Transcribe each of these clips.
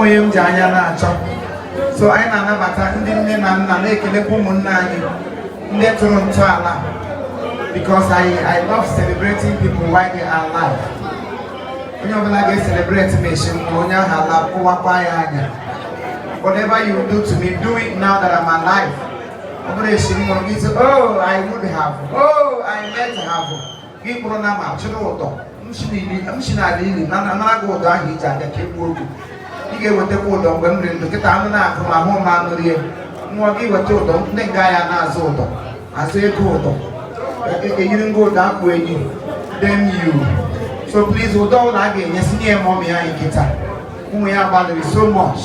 onye m ji anya na-achọ so anyị na-anabata ndị nne na nna na-ekelekwa ụmụnne anyị ndị tụrụ ntọala because I, I love celebrating people while they are alive onye ọbụla ga-ecelebrate m echi mgbe onye ahụ ala kụwakwa ya anya whatever you do to me do it now that I'm alive ọ bụrụ echi m nwụrụ gị oh I would have oh I meant to have gị kpụrụ nama chịrị ụdọ m si n'ala ili na-anara gị ụdọ ahụ iji abịa ka egbuo oge ị ga-ewetakwa ụdọ mgbe m dị ndụ kịta anụ na-akụ ma ahụ ma anụ rie nwa gị weta ụdọ ndị nga ya na-azọ ụdọ azọ ego ụdọ ejiri ngwa ụdọ akpụ ehi damn you so please ụdọ ụnụ ga-enye sị nye mọmị anyị kịta nwaanyị a gbalịrị so much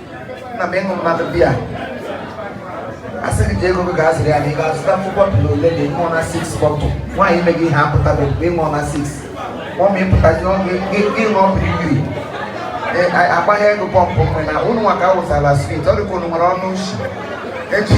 na m ịṅụ mmadụ bịa asị gị ji ego gị ga-azụrụ ya na ị ga-azụta mkpụ bottle ole na ịṅụọ na 6 bottle nwaanyị ime gị ihe apụtabe mgbe ịṅụọ na 6 ọ ma ịpụtazi ịṅụọ biribiri agbaghị ego pump mgbe na ụnụ nwa ka awụsala swit ọ dịka ụnụ nwere ọnụ ushi eji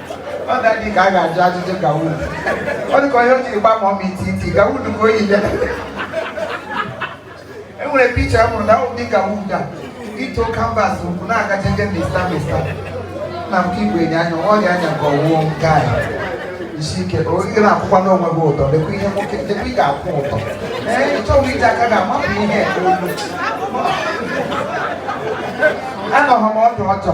ọ ga-adị ka a ga-ajụ ajụjụ gown ọ dịka onye o jiri gba ma ọ ma iti iti gown ka o yile e nwere picture m hụrụ na ọ dị gown a ito canvas ụkwụ na-agaje nje mista mista na m ka igwe enye anya ọ dị anya ka ọwụọ nke a isi ike o ị na-akwụkwa n'onwe gị ụtọ lekwa ihe nwoke lekwa ị ga-akwụ ụtọ ee ị chọghị iji aka ga-amapụ ihe nke olu anọghị m ọdụ ọjọọ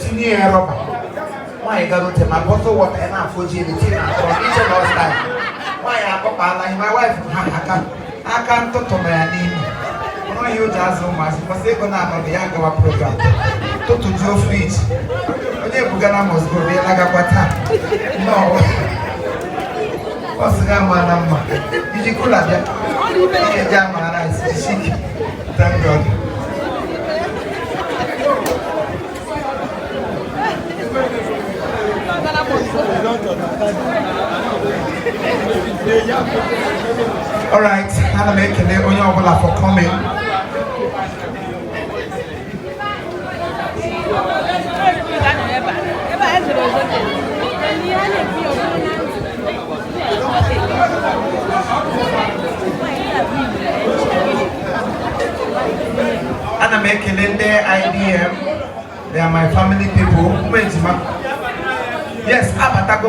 tinye ya rubber nwaanyị gara ote ma bottle water ya na-afụ ji elu tinye na atọ iche na ọsta nwaanyị akpọkpala ihe my wife ha aka aka ntụtụ na ya n'ime ọnụ ihe o ji azụ ụmụazị mmasị ego na-anọdụ ya gawa program tụtụjuo fridge onye bugara must go bịa lagakwa taa nnọọ ọ sị ga ama na mma iji cooler bịa ị ga-eji amara isi isi ike All right, ana m ekele onye ọbụla for coming. ana m ekele ndị IDM they are my family people ụmụ ejima yes abatago